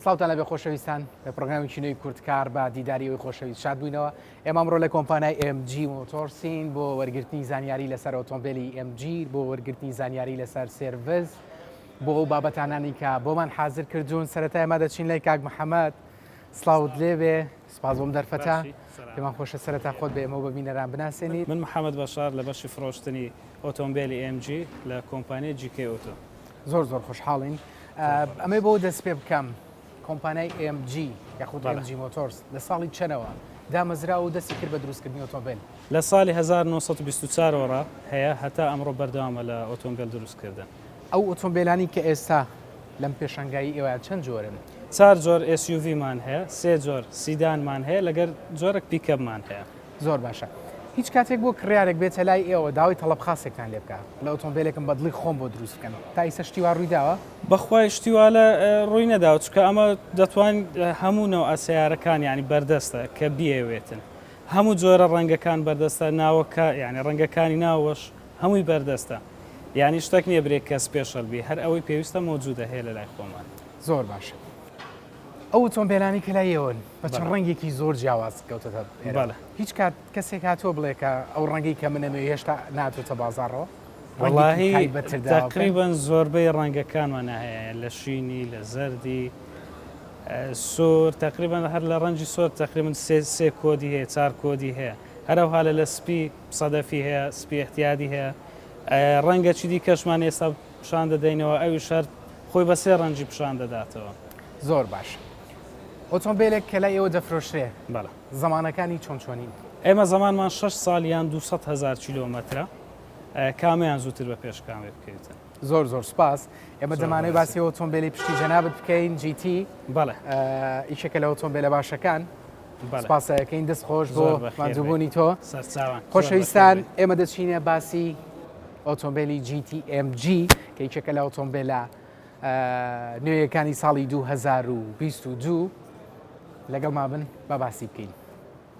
ساوتان لەبێ خۆشەویستان لە پرۆگرامی چینەی کوردکار بە دیداریەوەی خۆشەویست شاد بووینەوە ئێمامڕۆ لە کۆمپانای MG مۆتۆرسین بۆ وەرگرتنی زانیاری لەسەر ئۆتۆمبیلی MG بۆ وەرگرتنی زانیاری لەسەر سێرڤز بۆ ئەو بابەتانانی کە بۆمان حاضر کردوون سەرەتای ما دەچین لای کاک محەممەد سلااوت لێبێ سپاس بۆم دەرفەتە. پێمان خۆشە سەرەتا خۆت بە ئێمە و بە بینەران بناسێنیت. من محەمەد بەشار لە بەشی فڕۆشتنی ئۆتۆمبێلی ئێم جی لە کۆمپانیای جی کەی ئۆتۆ. زۆر زۆر خۆشحاڵین. ئەمەی بەوە دەست پێ بکەم کۆمپانیای ئێم جی یاخود ئێم جی مۆتۆرس لە ساڵی چەنەوە دامەزرا و دەستی کرد بە دروستکردنی ئۆتۆمبێل؟ لە ساڵی هەزار و نۆ سەد و بیست و چار ەوە ڕا هەیە هەتا ئەمڕۆ بەردەوامە لە ئۆتۆمبێل دروستکردن. ئەو ئۆتۆمبێلانەی کە ئێستا لەم پێشانگایە ئێوەیان چەند جۆرن؟ چار جۆر SUV مان هەیە، سێ جۆر سیدانمان هەیە لەگەر جۆرەک پیکەبمان هەیە. زۆر باشە. هیچ کاتێک بۆ کڕیارێک بێتە لای ئێوە داوای تەڵەب خاسێکتان لێ بکا لە ئۆتۆمبێلێکم بە دڵی خۆم بۆ دروست بکەن، تا ئیستا شتی وا ڕووی داوە؟ بەخوای شتی وا لە ڕووی نەداوە، چونکە ئەمە دەتوان هەموو نەوعە سەیارەکان یانی بەردەستە کە بیەوێتن. هەموو جۆرە ڕەنگەکان بەردەستە، ناوەکە یانی ڕەنگەکانی ناوەش. هەمووی بەردەستە یانی شتەک نیە برێ کە سپێشەل بی هەر ئەوەی پێویستە مەوجودە هەیە لەلای خۆمان. زۆر باشە ئەو ئۆتۆمبێلانەی کە لای ئێوەن بە چەند ڕەنگێکی زۆر جیاواز کەوتۆتە ئێرە بەڵێ. هیچ کات کەسێک هاتووە بڵێ کە ئەو ڕەنگەی کە من ئەمەوێ هێشتا ناتۆتە بازاڕەوە ڕەنگێکی وەڵاهی تایبەتتر داوە پێم؟ تەقریبەن زۆربەی ڕەنگەکانمان هەیە لە شینی لە زەردی ئە، سور تەقریبەن هەر لە ڕەنجی سۆر تەقریبەن سێ سێ کۆدی هەیە چار کۆدی هەیە هەرەوها لە لە سپی سەدەفی هەیە، سپی ئیعتیادی هەیە، ڕەنگە چی دیکەشمان ئێستا پیشان دەدەینەوە، ئەویش هەر خۆی بە سێ ڕەنگی پیشان دەداتەوە. زۆر باش. ئۆتۆمبێلێک کە لای ئێوە دەفرۆشرێ، زەمانەکانی چۆن چۆنین؟ ئێمە زەمانمان شەش ساڵ یان دوو سەد هەزار کیلۆمەترە، کامەیان زووتر بە پێشکاوێ بکەویتن. زۆر زۆر سوپاس ئێمە دەمانەوەی باسی ئۆتۆمبیلی پشتی جەنابەت بکەین جیتی بەڵێ ئیشەکە لە ئۆتۆمبیلە باشەکان سپاسەکەین دەست خۆش بۆ مادوبوونی تۆ سەرچوان خۆشەویستان ئێمە دەچینە باسی ئۆتۆمبیلی GTMG کە یچەکە لە ئۆتۆمبیلە نوێیەکانی ساڵی 2022 لەگەڵ ما بن بە باسی بکەین.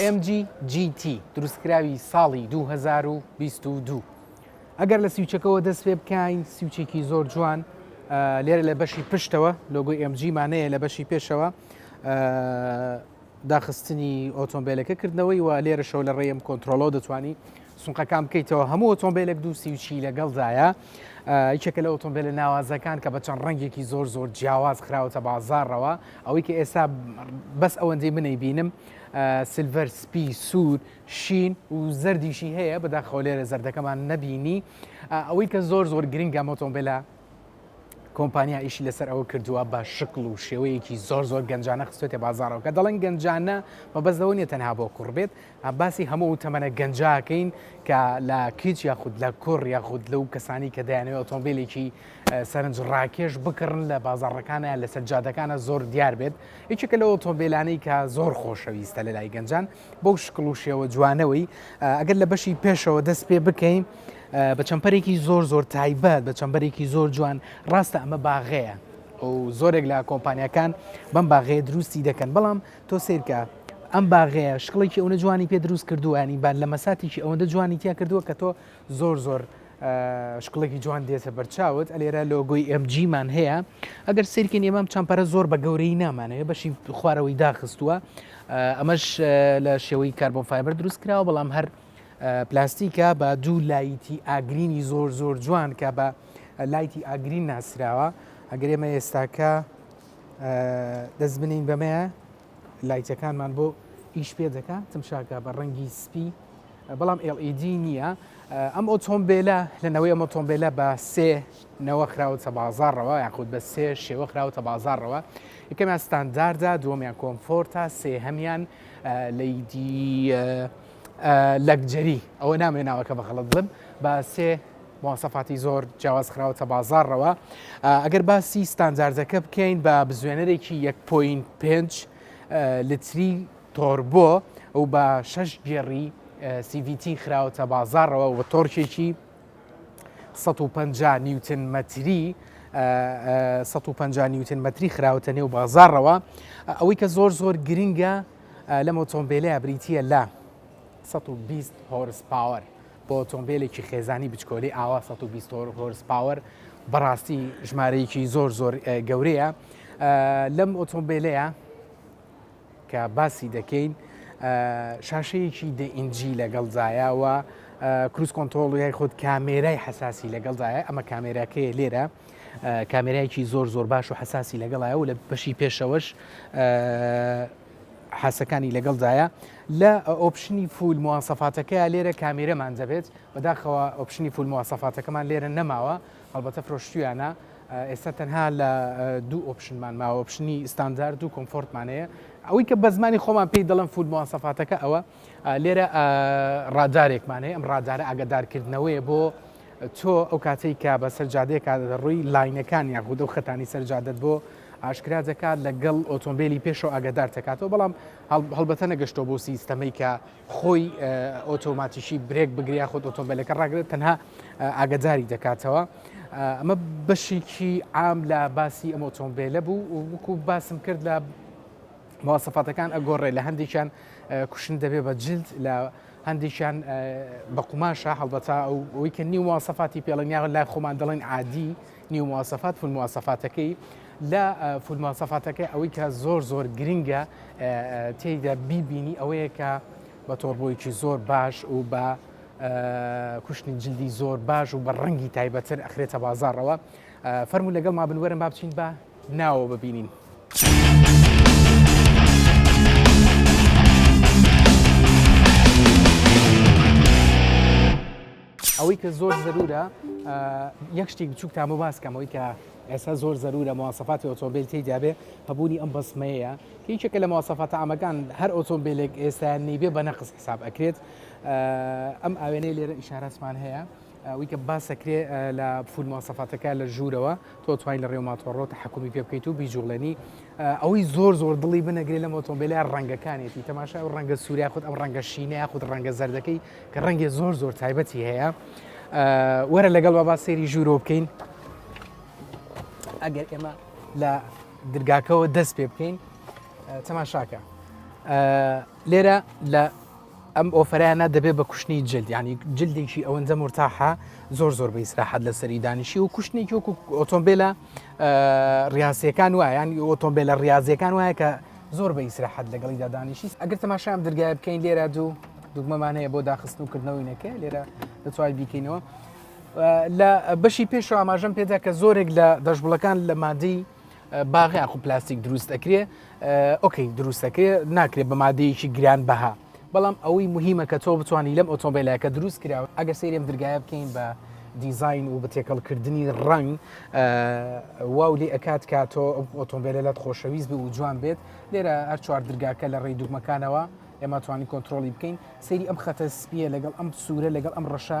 MG GT دروستکراوی ساڵی 2022 ئەگەر لە سیوچەکەەوە دەست پێ بکەین سیوچێکی زۆر جوان لێرە لە بەشی پشتەوە لۆگوی MG مانەیە لە بەشی پێشەوە داخستنی ئۆتۆمبیلەکە کردنەوەی و لێرە شەو لە ڕێم کۆنتترۆلۆ دەتوانانی سونقەکان بکەیتەوە هەموو ئۆتۆمبیلێک دوو سی و چی لەگەڵدایە یەکێکە لە ئۆتۆمبیلە ناوازەکان کە بە چەند ڕەنگێکی زۆر زۆر جیاواز خراوەتە بازارڕەوە ئەوەی کە ئێستا بەس ئەوەندەی منەی بینم سلڤەر سپی سوور شین و زەردیشی هەیە بەدا خۆلێرە زەردەکەمان نەبینی ئەوەی کە زۆر زۆر گرنگە مۆتۆمبیلە کۆمپانیا ئیشی لەسەر ئەوە کردووە بە شکل و شێوەیەکی زۆر زۆر گەنجانە خستێتە بازارەوە کە دەڵێن گەنجانە مەبەز لەوە نیە تەنها بۆ کوڕبێت باسی هەموو ئەو تەمەنە گەنجە کەین کە لە کچ یاخود لە کوڕ یاخود لەو کەسانی کە دەیانەوێت ئۆتۆمبیلێکی سەرنج ڕاکێش بکڕن لە بازاڕەکانیان لە سەرجادەکانە زۆر دیار بێت یەکێکە لە ئۆتۆمبیلانەی کە زۆر خۆشەویستە لە لای گەنجان بەو شکڵ و شێوە جوانەوەی ئەگەر لە بەشی پێشەوە دەست پێ بکەین بە چەمپەرێکی زۆر زۆر تایبەت بە چەمبەرێکی زۆر جوان ڕاستە ئەمە باغەیە و زۆرێک لە کۆمپانیەکان بەم باغەیە دروستی دەکەن بەڵام تۆ سەیرکە ئەم باغەیە شکڵێکی ئەونە جوانی پێ دروست کردووە ینی با لە مەساتێکی ئەوەندە جوانی تیا کردووە کە تۆ زۆر زۆر شکڵێکی جوان دێتە بەرچاوت ئەلێرە لۆگۆی ئەمجیمان هەیە ئەگەر سیرکن ئێمام چەمپەرە زۆر بە گەورەی نامانەیە بەشی خوارەوەی داخستووە ئەمەش لە شێوەی کاربۆن فایبەر دروست کراوە بەڵام هەر پلاستیکە بە دوو لایتی ئاگرینی زۆر زۆر جوان کە بە لایتی ئاگرین ناسراوە ئەگەر ئێمە ئێستاکە دەست بنین بەمەیە لایتەکانمان بۆ ئیش پێ دەکە تمشاکە بە ڕەنگی سپی بەڵام LED نییە ئەم ئۆتۆمبیلە لەنەوەی ئەم ئۆتۆمبیلە بە سێ نەوە خراوەتە بازارڕەوە یاخود بە سێ شێوە خراوەتە بازارڕەوە یکەمیان ستانداردا دووەمیان کۆمفۆرتا سێ هەمان لەیدی لەکجەری ئەوە نامێ ناوەکە بەخەڵت بم بە سێ مواسەفاتی زۆر جیاواز خراوەتە بازاڕەوە ئەگەر باسی ستانداردەکە بکەین بە بزوێنەرێکی 1.5 لتری تۆربۆ و بە شش گێڕی CVT خراوەتە بازاڕەوە و تۆرکێکی 150 نیوتن مەتری 150 نیوتن مەتری خراوەتە نێو بازارڕەوە ئەوەی کە زۆر زۆر گرنگە لەم ئۆتۆمبیلەیە بریتە لە 120 هۆرس پاوەر بۆ ئۆتۆمبێلێکی خێزانی بچکۆلی ئاوا 120 هۆرس پاوەر بەڕاستی ژمارەیەکی زۆر زۆر گەورەیە لەم ئۆتۆمبیلەیە کە باسی دەکەین شاشەیەکی دئینجی لەگەڵ زایەوە کروس کۆنتۆڵی خود کامێرای حساسی لەگەڵ زایە ئەمە کامێراکەی لێرە کامێرایکی زۆر زۆر باش و حساسی لەگەڵایە و لە بەشی پێشەوەش حاسەکانی لەگەڵدایە لە ئۆپشنی فول موواسەفاتەکەی لێرە کامێرەمان دەبێت بەداخەوە ئۆپشنی فول موواسەفاتەکەمان لێرە نەماوە هەڵبەتە فرۆشتویانە ئێستا تەنها لە دوو ئۆپشنمان ماوە ئۆپشنی ستاندارد و کۆمفۆرتمانەیە ئەوەی کە بە زمانی خۆمان پێی دەڵم فول موواسەفاتەکە ئەوە لێرە ڕادارێکمان هەیە ئەم ڕادارە ئاگادارکردنەوەیە بۆ تۆ ئەو کاتێک کە بە سەرجادەیەکە ڕووی لاینەکان یان خودە و خەتانی سەرجادت بۆ ئاشکرا دەکات لەگەڵ ئۆتۆمبیلی پێشەوە ئاگادار دەکاتەوە بەڵام هەڵبەتە نەگەشتۆ بۆ سیستەمەی کە خۆی ئۆتۆماتیشی برێک بگریا خۆ ئۆتۆمبیلەکە ڕاگرێت تەنها ئاگداری دەکاتەوە ئەمە بەشێکی ئام لە باسی ئەم ئۆتۆمبیلە بوو وکو باسم کرد لە مواصفاتەکان ئەگۆڕێ لە هەندێکیان کوشن دەبێ بە جلد لە هەندێکیان بە قوماشە هەڵبەتا ئەو ئەوی کە نیو مواسەفاتی پێڵنیاوە لای خۆمان دەڵێن عادی نیو مواسەفات فول مواسەفاتەکەی لە فول مواسەفاتەکە ئەوەی کە زۆر زۆر گرنگە تێیدا بیبینی ئەوەیە کە بە تۆڕبۆیکی زۆر باش و بە کوشتنی جلدی زۆر باش و بە ڕەنگی تایبەتر ئەخرێتە بازارەوە فەرمو لەگەڵ ما بنوەرم با بچین بە ناوە ببینین. ئەوەی کە زۆر زەرورە یەک شتێک بچووکتان بۆ باسکەمەوەی کە ئێستا زۆر زەرورە موواسەفاتی ئۆتۆمبیل تێدابێ هەبوونی ئەم بەسمەیە هیچێکە لە موواسەفاتە ئامەکان هەر ئۆتۆمبیلێک ئێستایان نیبێ بە نەقس حساب ئەکرێت ئەم ئاوێنەی لێرە ئیشارەسمان هەیە ئەوەی کە باس ئەکرێ لە فول مواسەفاتەکە لە ژوورەوە تۆ توانی لە ڕێوما تۆڕۆ تەحەکومی پێ بکەیت و بیجووڵێنی ئەوەی زۆر زۆر دڵی بنەگرێ لەم ئۆتۆمبیلە ڕەنگەکانێتی تەماشای ئەو ڕەنگە سووریا خود ئەم ڕەنگە شینە یاخود ڕەنگە زەردەکەی کە ڕەنگێ زۆر زۆر تایبەتی هەیە وەرە لەگەڵ بابا سێری ژوورۆ بکەین ئەگەر ئێمە لە درگاکەەوە دەست پێ بکەین تەماشاکە لێرە لە ئەم ئۆفەرانە دەبێت بە کوشتنی جلد یعنی جلدێکی ئەوەندە مرتاحە زۆر زۆر بە ئیسراحەت لەسەری دانیشی و کوشتنێکی وەکو ئۆتۆمبیلە ڕاستیەکان وایە یان ئۆتۆمبیلە ڕاستیەکان وایە کە زۆر بە ئیسراحەت لەگەڵی دادانیشی ئەگەر تەماشام دررگای بکەین لێرە دوو دوگمەمان هەیە بۆ داخستن و کردنەوەی نەکە لێرە دەتوای بیکەینەوە لە بەشی پێشەوە ئاماژەم پێدا کە زۆرێک لە دەشبڵەکان لە مادەی باغی ئاخو پلاستیک دروست ئەکرێ ئۆکەی دروستەکرێ ناکرێ بە مادەیەکی گران بەها بەڵام ئەوەی مهمە کە تۆ بتانی لەم ئۆتۆمبیلەکە دروست کراوە ئەگە سێرم درگایە بکەین بە دیزین و بە تێکەڵکردنی ڕنگ واو لێ ئەکات کا تۆ ئۆتۆمبیلە لەت خۆشەویست بوو جوان بێت لێرە هەر چوار درگاکە لە ڕێی دوگمەکانەوە ئێمە توانی کۆنتترۆلی بکەین سری ئەم خەتە سپیە لەگەڵ ئەم سوورە لەگەڵ ئەم ڕەشە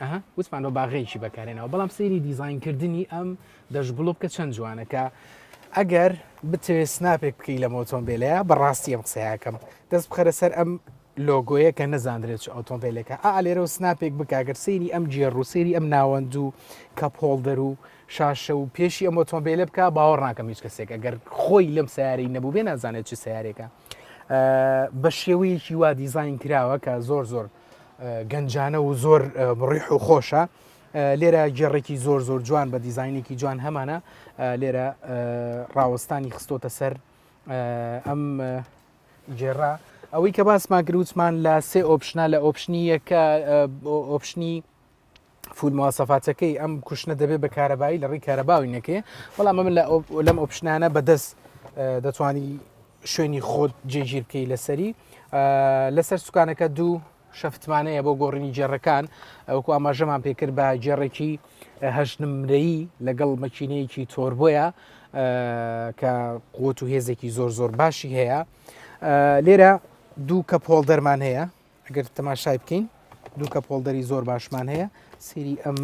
ئەها وتمان بە باغەیەکی بەکارێنەوە بەڵام سەیری دیزینکردنی ئەم دەشگوڵ بکە چەند جوانە کە ئەگەر بتەوێت سناپێک بکەی لە مۆتۆمبیلەیە بەڕاستی ئەم قسەیەکەم دەست بخەرە سەر ئەم لۆگۆیە کە نەزانرێت ئۆتۆمبیلەکە ئالێرە و سناپێک بکگەر سەیری ئەم جێڕ و سەیری ئەم ناوەند و کە پۆڵدەر و شاشە و پێشی ئەم ئۆتۆمبیلە بکە باوەڕ ناکەم هیچ کەسێک ئەگەر خۆی لەم سیارەی نەبوو بێ نازانێت چ سیارێکە بە شێوەیەکی وا دیزین کراوە کە زۆر زۆر گەنجانە و زۆر بڕیح و خۆشە لێرە گێڕێکی زۆر زۆر جوان بە دیزینێکی جوان هەمانە لێرە ڕاوەستانی خستۆتە سەر ئەم گێڕا ئەوەی کە باسماگرووتمان لە سێ ئۆپشنە لە ئۆپشنی یەکە ئۆپشنی فود مواسەفاتەکەی ئەم کوشتنە دەبێت بە کارەبایی لە ڕی کارەباوی نەکەێ بەڵام من لەم ئۆپشنانە بەدەست دەتوانی شوێنی خۆت جێگیر بکەی لەسەری لەسەر سوکانەکە دوو شەفتمانەیە بۆ گۆڕینی جێڕەکان ئەوکو ئاماژەمان پێکرد بە جێڕێکی هەشتنمرەی لەگەڵ مەچینەیەکی تۆربۆیە کە قوت و هێزێکی زۆر زۆر باشی هەیە لێرە دوو کە پۆڵ دەرمان هەیە ئەگەر تەماشای بکەین دوو کە پۆڵدەری زۆر باشمان هەیە سری ئەم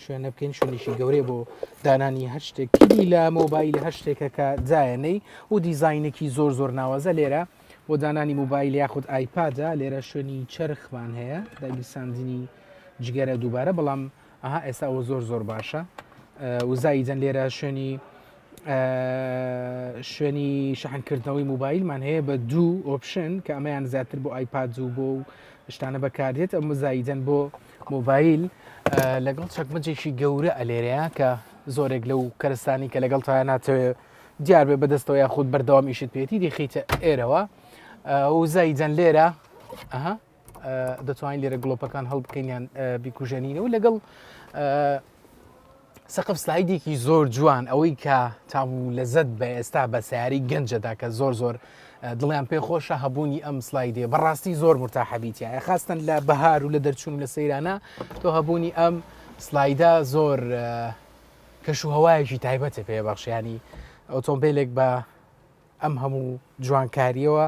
شوێنە بکەین شوێنیشی گەورەیە بۆ دانانی هەر شتێک کلی لە مۆبایل هەر شتێکە کە جایەنەی و دیزینێکی زۆر زۆر ناوازە لێرە بۆ دانانی موبایل یاخود ئایپادە لێرە شوێنی چرخمان هەیە داگیرساندنی جگەرە دووبارە بەڵام ئەها ئێستا ئەوە زۆر زۆر باشە وزایی جەن لێرە شوێنی شوێنی شەحنکردنەوەی موبایلمان هەیە بە دوو ئۆپشن کە ئەمەیان زیاتر بۆ ئایپاد و بۆ و شتانە بەکاردێت ئەم زاییدەن بۆ مۆبایل لەگەڵ چەکمەجێکی گەورە ئەلێرەیە کە زۆرێک لەو کەرستانی کە لەگەڵ تایە ناتەوێ دیار بێ بەدەستەوە یاخود بەردەوام ئیشت پێێتی دیخیتە ئێرەوە وزاییدەن لێرە ئەها دەتوانین لێرە گڵۆپەکان هەڵبکەینیان بیکوژێنینەوە لەگەڵ سەقف سلایدێکی زۆر جوان ئەوەی کە تام و لەزت بە ئێستا بە سیاری گەنجەدا کە زۆر زۆر دڵیان پێ خۆشە هەبوونی ئەم سلایدێ بەڕاستی زۆر مرتا حەبیتە خاستن لە بەهار و لە دەرچوون لە سەیرانە تۆ هەبوونی ئەم سلایدا زۆر کەش و هەوایەکی تایبەتە پێ بەخشیانی ئۆتۆمبیلێک بە ئەم هەموو جوانکاریەوە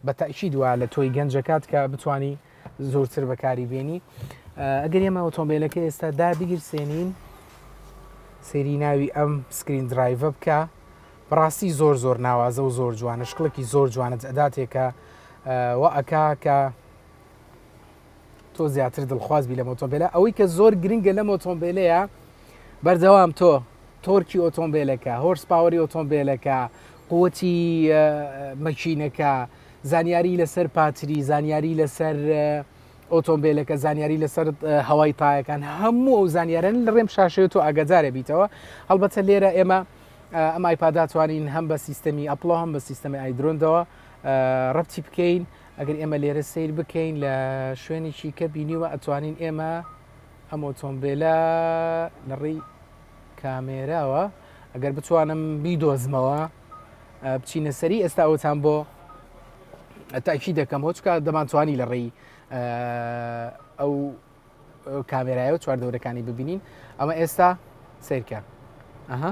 بە تاکید وا لە تۆی گەنج دەکات کە بتانی زۆرتر بەکاری بێنی ئەگەر ئێمە ئۆتۆمبیلەکە ئێستا دابگیرسێنین سێری ناوی ئەم سکرین درایڤە بکە بەڕاستی زۆر زۆر ناوازە و زۆر جوانە شکڵێکی زۆر جوانت ئەداتێکە وە ئەکا کە تۆ زیاتر دڵخواز بی لەم ئۆتۆمبیلە ئەوەی کە زۆر گرنگە لەم ئۆتۆمبیلەیە بەردەوام تۆ تۆرکی ئۆتۆمبیلەکە هۆرس پاوەری ئۆتۆمبیلەکە قوتی مەچینەکە زانیاری لەسەر پاتری زانیاری لەسەر ئۆتۆمبیلەکە زانیاری لەسەر هەوای تایەکان هەموو ئەو زانیارن لە ڕێم شاشەیە تۆ ئاگادارە بیتەوە هەڵبەتە لێرە ئێمە ئەم ئایپاداتوانین هەم بە سیستەمی ئەپڵۆ هەم بە سیستەمی ئایدرۆندەوە ڕەتی بکەین ئەگەر ئێمە لێرە سەیر بکەین لە شوێنێکی کە بینیوە ئەتوانین ئێمە ئەم ئۆتۆمبیلە لە ڕێی کامێراوە ئەگەر بتوانم بیدۆزمەوە بچینە سەری ئێستا ئەوتان بۆ تاکی دەکەم هۆچکە دەمانتوانی لە ڕێی ئەو کامێرایەو چوار دەورەکانی ببینین ئەمە ئێستا سیرکە ئەها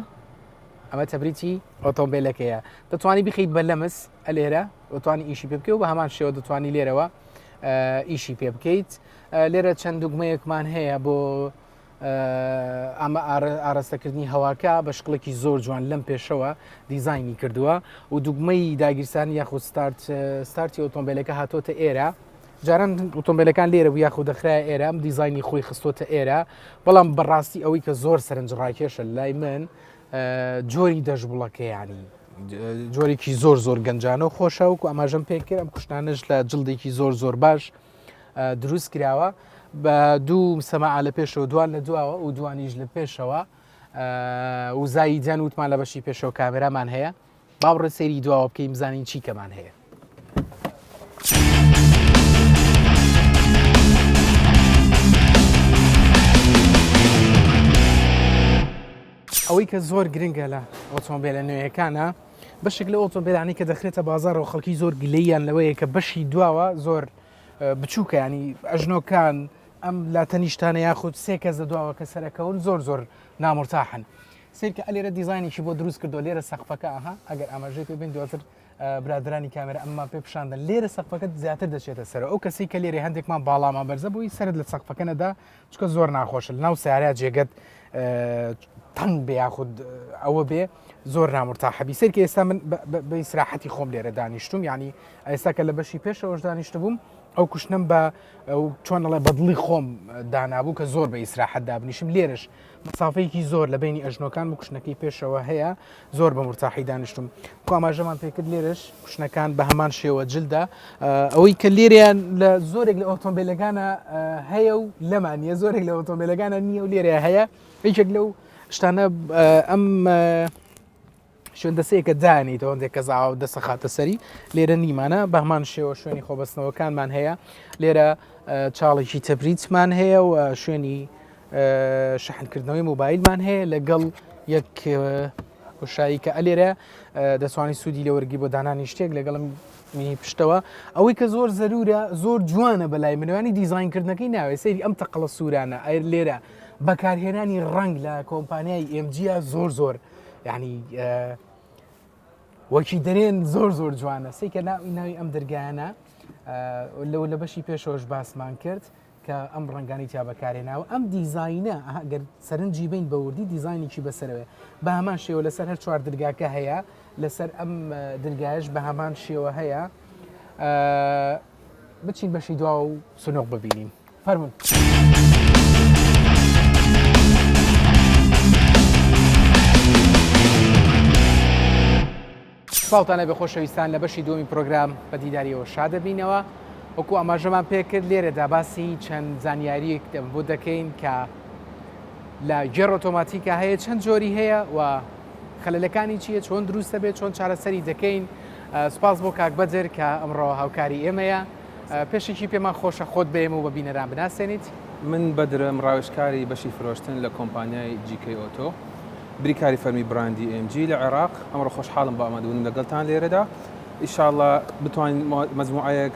ئەمە تەبریی ئۆتۆمبیلەکەیە دەتوانانی بخیت بە لەمس ئە لێرە دەتوانانی ئیشی پێ بکەی و بە هەمان شێوە دەتوانانی لێرەوە ئیشی پێ بکەیت لێرە چەند دوگمەیەکمان هەیە بۆ ئەمە ئاراستەکردنی هەواکە بە شکڵێکی زۆر جوان لەم پێشەوە دیزایانی کردووە و دوگمەی داگیرسانی یاخود ستارت ستارتی ئۆتۆمبیلەکە هاتۆتە ئێرە جاران ئۆتۆمبیلەکان لێرە بوو یاخود دەخرایە ئێرە ئەم دیزایانی خۆی خستۆتە ئێرە بەڵام بەڕاستی ئەوەی کە زۆر سەرنج ڕاکێشە لای من جۆری دەژبڵەکەیانی جۆرێکی زۆر زۆر گەنجانە و خۆشە وکو ئەماژەم پێ کرد ئەم کوشتانش لە جلدێکی زۆر زۆر باش دروست کراوە بە دوو سەما لە پێشەوە دوان لە دواوە و دوانیش لە پێشەوە وزایی جان وتمان لە بەشی پێشەوە کامێرامان هەیە با بڕۆین سەیری دواوە بکەین بزانین چی کەمان هەیە. ئەوەی کە زۆر گرنگە لە ئۆتۆمبیلە نوێیەکانە بەشێک لە ئۆتۆمبیلانی کە دەخرێتە بازارەوە خەڵکی زۆر گلەیان لەوەیە کە بەشی دواوە زۆر بچووکە ینی ئەژنۆکان ئەم لا تەنیشتانە یاخود سێ کەس دە دواوە کە سەرەکەون زۆر زۆر نامرتاحن سەیرکە ئەلێرە دیزاینێکی بۆ دروست کردو لێرە سەقفەکە ئەها ئەگەر ئاماژەی پێ بین دواتر برادرانی کامێرە ئەمما پێ پیششاندن لێرە سەقفەکەت زیاتر دەچێتە سەر ئەو کەسی کە لێرە هەندێکمان باڵامان بەرزە بووی سرد لە سەقفەکەنەدا چکە زۆر ناخۆش ناو سارا جێگەت تەنگ بێ یاخود ئەوە بێ زۆر نامرتا حەبی سەرکە ئێستا من بە ئیسراحەتی خۆم لێرە دانیشتم ینی ئێستا کە لە بەشی پێشەوەش دانیشت بووم ئەو کوشتنم بە چۆنڵێ بەدڵی خۆم دانابوو کە زۆر بە ئیسراحەت دابنیشم لێرش مەسافەیەکی زۆر لە بینی ئەژنۆکان و کوشنەکەی پێشەوە هەیە زۆر بە مرتاحی دانیشتم کواماژەمان پێکرد لێرش کوشنەکان بە هەمان شێوە جلدا ئەوەی کە لێریان لە زۆرێک لە ئۆتۆمبیلەکانە هەیە و لەمان نیە زۆرێک لە ئۆتۆمبیلەکانە نییە و لێرە هەیە یەکێک لەو شتانە ئەم شوێن دەسەیەکە دانیت هەندێک کە زاوا و دەسە خاتە سەری لێرە نیمانە بەهمان شێوە شوێنی خۆبەستنەوەکانمان هەیە لێرە چاڵێکی تەبریتمان هەیە و شوێنی شەحنکردنەوەی موبایلمان هەیە لەگەڵ یەک وشایی کە ئەلێرە دەسوانی سوودی لە وەرگی بۆ دانانی شتێک لەگەڵم مینی پشتەوە ئەوەی کە زۆر زەرورە زۆر جوانە بەلای منوانی دیزینکردنەکەی ناوێ سەیری ئەم تەقلە سوورانە ئەر لێرە بەکارهێنانی ڕنگ لە کۆمپانیای ئمجیا زۆر زۆر یعنی وەکی دەرێن زۆر زۆر جوانە سی کە ناوی ناوی ئەم دەرگایانە لەو لە بەشی پێشۆش باسمان کرد کە ئەم ڕنگانی تیا بەکارێناوە ئەم دیزینە ئەگەر سەرنجی بین بەوردی دیزینێکی بەسەرەوە بە هەمان شێوە لەسەر هەر چوار درگاکە هەیە لەسەر ئەم درگایش بە هەمان شێوە هەیە بچین بەشی دواوە و سنوق ببینین فەرمون. ساڵتانە بە خۆشەویستان لە بەشی دومی پرۆگرام بە دیداریەوە شادەبینەوە وەکو ئاماژەمان پێکرد لێرەدا باسی چەند زانیاریەک بۆ دەکەین کە لە گێڕ ئۆتۆماتیکە هەیە چەند جۆری هەیە و خەلەکانی چیە چۆن دروستە بێت چۆن چارەسەری دەکەین سپاس بۆ کاک بەدر کە ئەمڕۆ هاوکاری ئێمەیە. پێشەکی پێمان خۆشە خۆت بەێمە و بە بینەران بناسێنیت. من بەدرم، ڕاوێژکاری بەشی فرۆشتن لە کۆمپانیای GK Auto، بریکاری فەرمی بڕاندی AMG لە عێراق. ئەمڕۆ خۆشحاڵم بە ئامادەبوونم لەگەڵتان لێرەدا. ئیشاڵڵا بتوانین مەجموعەیەک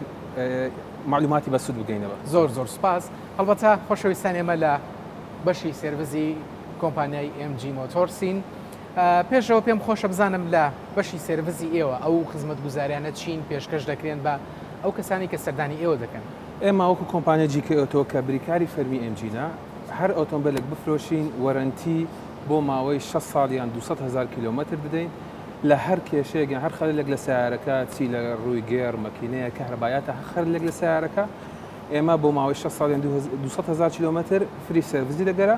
مەعلوماتی بەسوود بگەینە بە. زۆر زۆر سپاس. هەڵبەتە خۆشەویستان ئێمە لە بەشی سێرڤزی کۆمپانیای AMG Motors ین. پێشەوە پێم خۆشە بزانم لە بەشی سێرڤزی ئێوە ئەو خزمەتگوزاریانە چین پێشکەش دەکرێن بە ئەو کەسانی کە سەردانی ئێوە دەکەن؟ ئێمە وەکو کۆمپانیای جی کەی ئۆتۆ کە بریکاری فەرمی ئێم جینە، هەر ئۆتۆمبێلێک بفرۆشین وەرەنتی بۆ ماوەی شەست ساڵ یان دوو سەد هەزار کیلۆمەتر دەدەین لە هەر کێشەیەک یان هەر خەلەلێک لە سەیارەکە چی لە رووی گێڕ، مەکینەیە، کەهرەبایە تا هەر خەلەلێک لە سەیارەکە ئێمە بۆ ماوەی شەست ساڵ یان دوو سەد هەزار کیلۆمەتر فری سێرڤزی دەگەرە.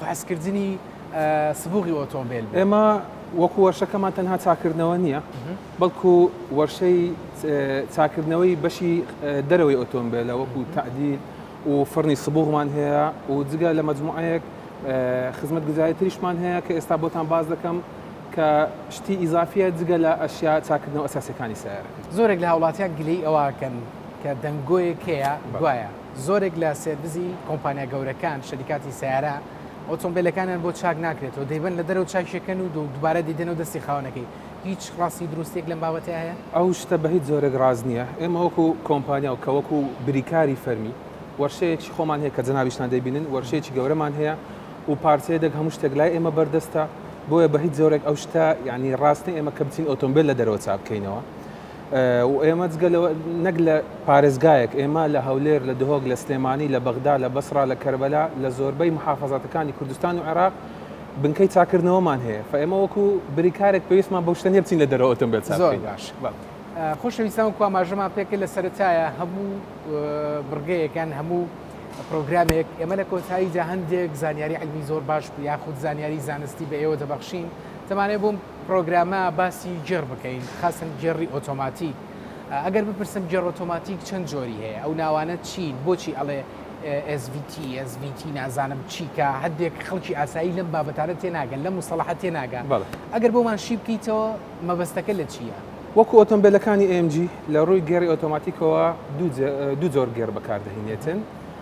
فەحسکردنی سبوغی ئۆتۆمبێل بوو. ئێمە وەکو وەرشەکەمان تەنها چاکردنەوە نییە، بەڵکو وەرشەی چاکردنەوەی بەشی دەرەوەی ئۆتۆمبێلە وەکو تادیل و فڕنی سبوغمان هەیە و جگە لە مجموعەیەک خزمەت گوزاری تریشمان هەیە کە ئێستا بۆتان باز دەکەم کە شتی ئیزافیە جگە لە ئەشیا چاکردنەوە ئەساسەکانی سیارەکە. زۆرێک لە هاوڵاتیان گلەی ئەوەکەن کە دەنگۆیەک هەیە گوایە. زۆرێک لە سێرڤیسی کۆمپانیا گەورەکان، شەریکاتی سەیارە، ئۆتۆمبێلەکانیان بۆ چاک ناکرێتەوە، دەیبەن لە دەرەوە چاکیەکەن و دووبارە دەیدەنەوە دەستی خاوەنەکەی، هیچ ڕاستی و دروستیەک لەم بابەتە هەیە؟ ئەو شتە بە هیچ جۆرێک ڕاست نییە، ئێمە وەکو کۆمپانیا و کە وەکو بریکاری فەرمی، وەرشەیەکی خۆمان هەیە کە جەنابیشتان دەیبینن، وەرشەیەکی گەورەمان هەیە و پارچەیەدەک هەموو شتێک لای ئێمە بەردەستە، بۆیە بە هیچ جۆرێک ئەو شتە یانی ڕاست نییە ئێمە کە بچین ئۆتۆمبێل لە دەرەوە چاک بکەینەوە، و ئێمە جگە لەوە نەک لە پارێزگایەک، ئێمە لە هەولێر، لە دهۆک، لە سلێمانی، لە بەغدا، لە بەسڕا، لە کەربەلا، لە زۆربەی موحافەزاتەکانی کوردستان و عێراق بنکەی چاککردنەوەمان هەیە، فە ئێمە وەکو بریکارێک پێویستمان بەو شتە نییە بچین لە دەرەوە ئۆتۆمبێل چاک بکەین. زۆر باش. بەڵێ. خۆشەویستان وەکو ئاماژەمان پێکرد لە سەرەتایە هەموو بڕگەیەک یان هەموو پرۆگرامێک ئێمە لە کۆتاییدا هەندێک زانیاری عیلمی زۆر باش یاخود زانیاری زانستی بە ئێوە دەبەخشین، دەمانەوێت بۆ پڕۆگرامە باسی گێڕ بکەین خاسن گێڕی ئۆتۆماتیک ئەگەر بپرسم گێڕ ئۆتۆماتیک چەند جۆری هەیە ئەو ناوانە چین بۆچی ئەڵێ SVT SVT نازانم چی کە هەندێک خەڵکی ئاسایی لەم بابەتانە تێناگەن لەم مستەڵەحە تێناگە ئەگەر بۆمان شی بکەیتەوە مەبەستەکە لە چییە؟ وەکو ئۆتۆمبێلەکانی AMG لە ڕووی گێڕی ئۆتۆماتیکەوە دوو جۆر گێڕ بەکاردەهینێتن،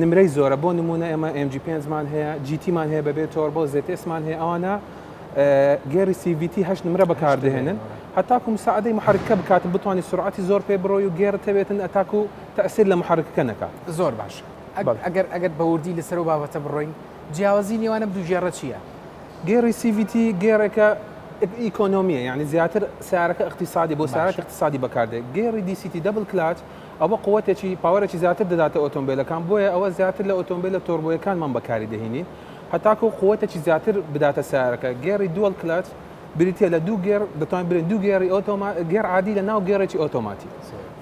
نمرەی زۆرە بۆ نمونە ئێمە ئێم جی پێنج مان هەیە جیتی مان هەیە بەبێ تۆربۆ زێتێس مان هەیە ئەوانە گێری سیڤیتی هەشت نمرە بەکاردێنن هەتاکو مساعدەی محرکە بکات بتوانانی سرعتی زۆر پێ بڕۆی و گێرە تەوێتن ئەتاکو تەسیر لە محرکەکە نەکات زۆر باش ئەگەر ئەگەر بەوردی لەسەر و بابەتە بڕۆین جیاوازی نێوانم دوو گێڕە چییە؟ گێری سیڤیتی گێرەکە ئیکۆنۆمیە یعنی زیاتر سیارەکە اقتصادی بۆ سیارەکە اقتصادی بەکاردێت گێری دیسیتی دەبل کلات ئەوە قوتێکی، پاوەرێکی زیاتر دەداتە ئۆتۆمبێلەکان، بۆیە ئەوە زیاتر لە ئۆتۆمبێلە تۆربۆیەکانمان بەکاری دەهینین، هەتاکوو قوتێکی زیاتر بداتە سەیارەکە. گێڕی دوەڵ کلەچ بریتییە لە دوو گێڕ، دەتوانین بلێین دوو گێڕی ئۆتۆما، گێڕ عادی لە ناو گێڕێکی ئۆتۆماتی.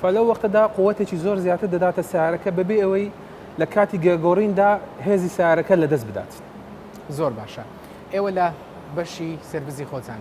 فە لەو وەقتەدا قوتێکی زۆر زیاتر دەداتە سەیارەکە بەبێ ئەوەی لە کاتی گێڕگۆڕیندا هێزی سەیارەکە لەدەست بدات. زۆر باشە. ئێوە لە بەشی سێرڤیسی خۆتان.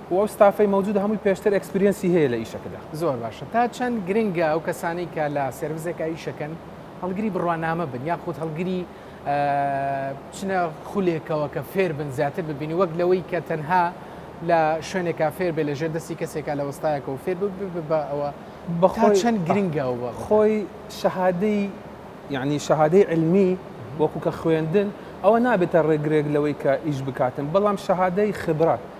و ئەو ستافەی مەوجودە هەمووی پێشتر ئێکسپریەنسی هەیە لە ئیشەکەدا. زۆر باشە تا چەند گرنگە ئەو کەسانەی کە لە سێرڤسێکا ئیشەکەن هەڵگری بڕوانامە بن یاخود هەڵگری بچنە خولێکەوە کە فێر بن زیاتر ببینی وەک لەوەی کە تەنها لە شوێنێکا فێر بێ لە ژێر دەستی کەسێکا لە وەستایەکەەوە فێر بە ئەوە بەخۆ چەند گرنگەوە خۆی شەهادەی یعنی شەهادەی علمی وەکو کە خوێندن ئەوە نابێتە ڕێگرێک لەوەی کە ئیش بکاتن بەڵام شەهادەی خبرات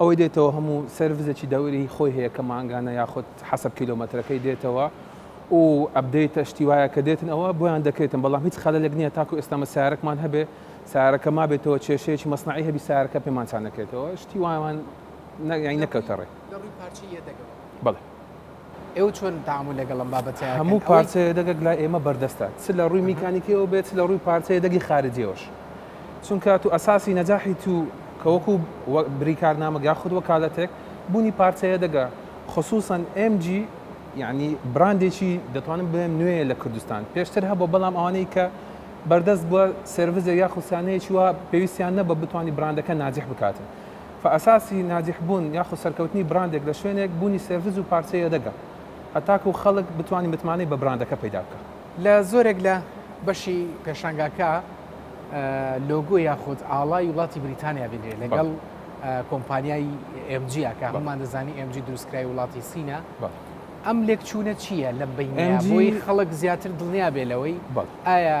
ئەوەی دێتەوە هەموو سێرڤسێکی دەوری خۆی هەیە کە مانگانە یاخود حەسەب کیلۆمەترەکەی دێتەوە و ئەپدەیتە شتی وایە کە دێتن ئەوە بۆیان دەکرێتن بەڵام هیچ خەلەلێک نییە تاکو ئێستا مە سیارەکمان هەبێ سیارەکە مابێتەوە کێشەیەکی مەسنەعی هەبی سیارەکە پێمان چانەکرێتەوە شتی وایان نەکەوتە ڕێ. بەڵێ. ئێوە چۆن تامول لەگەڵ ئەم بابەتە هەموو پارچە یەدەگەک لای ئێمە بەردەستە چ لە ڕووی میکانیکیەوە بێت چ لە ڕووی پارچە یەدەگی خارجیەوەش چونکە تو ئەساسی نەجاحی تو کەوەکو بریکارنامە یا خود وەکالەتێک بوونی پارچە یەدەگە خصوصا MG یعنی براندێکی دەتوانم بڵێم نوێیە لە کوردستان پێشتر هەبوو بەڵام ئەوانەی کە بەردەست بووە سێرڤزێک یاخود سیانەیەکی وا پێویستیان نەبە بتوانانی براندەکە ناجح بکاتن فە ئەساسی ناجیح بوون یاخود سەرکەوتنی براندێک لە شوێنێک بوونی سێرڤس و پارچە یەدەگە هەتاکوو خەڵک بتوانی متمانەی بە براندەکە پەیدا بکا. لە زۆرێک لە بەشی پێشانگاکە لۆگۆ یاخود ئاڵای وڵاتی بریتانیا بینرێ لەگەڵ کۆمپانیای ئێم جی کە هەموومان دەزانی ئێم جی دروستکرای وڵاتی سینە ئەم لێکچوونە چییە لە بینیان بۆی خەڵک زیاتر دڵنیا بێ لەوەی ئایا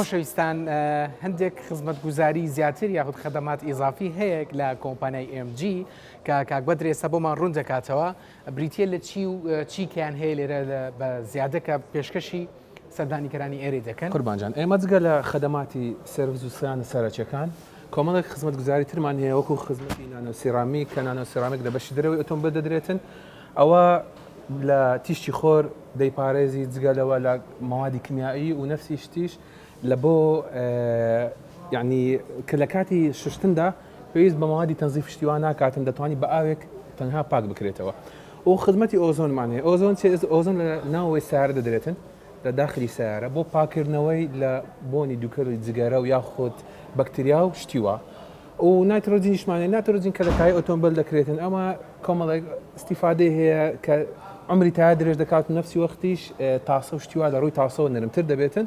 خۆشەویستان هەندێک خزمەتگوزاری زیاتر یاخود خەدەمات ئیزافی هەیەک لە کۆمپانیای MG کە کاک بەدرێ سەبۆمان ڕوون دەکاتەوە بریتە لە چی و چیکیان هەیە لێرە بە زیادەکە پێشکەشی سەردانیکەرانی ئێرەی دەکەن. قوربان جان ئێمە جگە لە خەدەماتی سێرڤس و سیانە سەرەکیەکان کۆمەڵێک خزمەت گوزاری ترمان هەیە وەکو خزمەتی نانۆ سیرامیک کە نانۆ سیرامیک لە بەشی دەرەوەی ئۆتۆمبێل دەدرێتن ئەوە لە تیشکی خۆر دەیپارێزی جگە لەوە لە مەوادی کمیایی و نەفسی شتیش لە بۆ یعنی کە لە کاتی شوشتندا پێویست بە مەوادی تەنزیف شتی وا ناکاتن دەتوانی بە ئاوێک تەنها پاک بکرێتەوە و خزمەتی ئۆزۆنمان هەیە ئۆزۆن چێز ئۆزۆن لە ناوەوەی سیارە دەدرێتن لە داخلی سیارە بۆ پاکردنەوەی لە بۆنی دوکەری جگەرە و یاخود بەکتریا و شتیوە و ناترۆجینیشمانە ناترۆجین کە لە تای ئۆتۆمبیل دەکرێتن ئەمە کۆمەڵێک استیفادەی هەیە کە ئەمری تا درێژ دەکات و نفسی وەختیش تاسە و شتیوا لە ڕووی تاسەوە نرمتر دەبێتن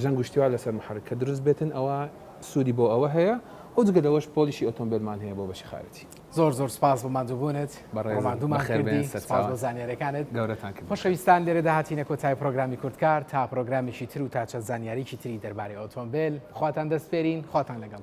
ژەنگ و شتیوا لەسەر محرک کە دروست بێتن ئەوا سودی بۆ ئەوە هەیە و جگە لەوەش پۆلیشی ئۆتۆمبێلمان هەیە بۆ بەشی خارجی. زۆر زۆر سوپاس بۆ ماندوبونت ڕۆماندومان کردی سوپاس بۆ زانیارەکانت خۆشەویستان لێرەدا هاتینە کۆتای پرۆگرامی کوردکار تا پرۆگرامێکی تر و تا چەند زانیاریکی تری دەربارەی ئۆتۆمبێل خواتان دەست پێرین خواتان لەگەڵ.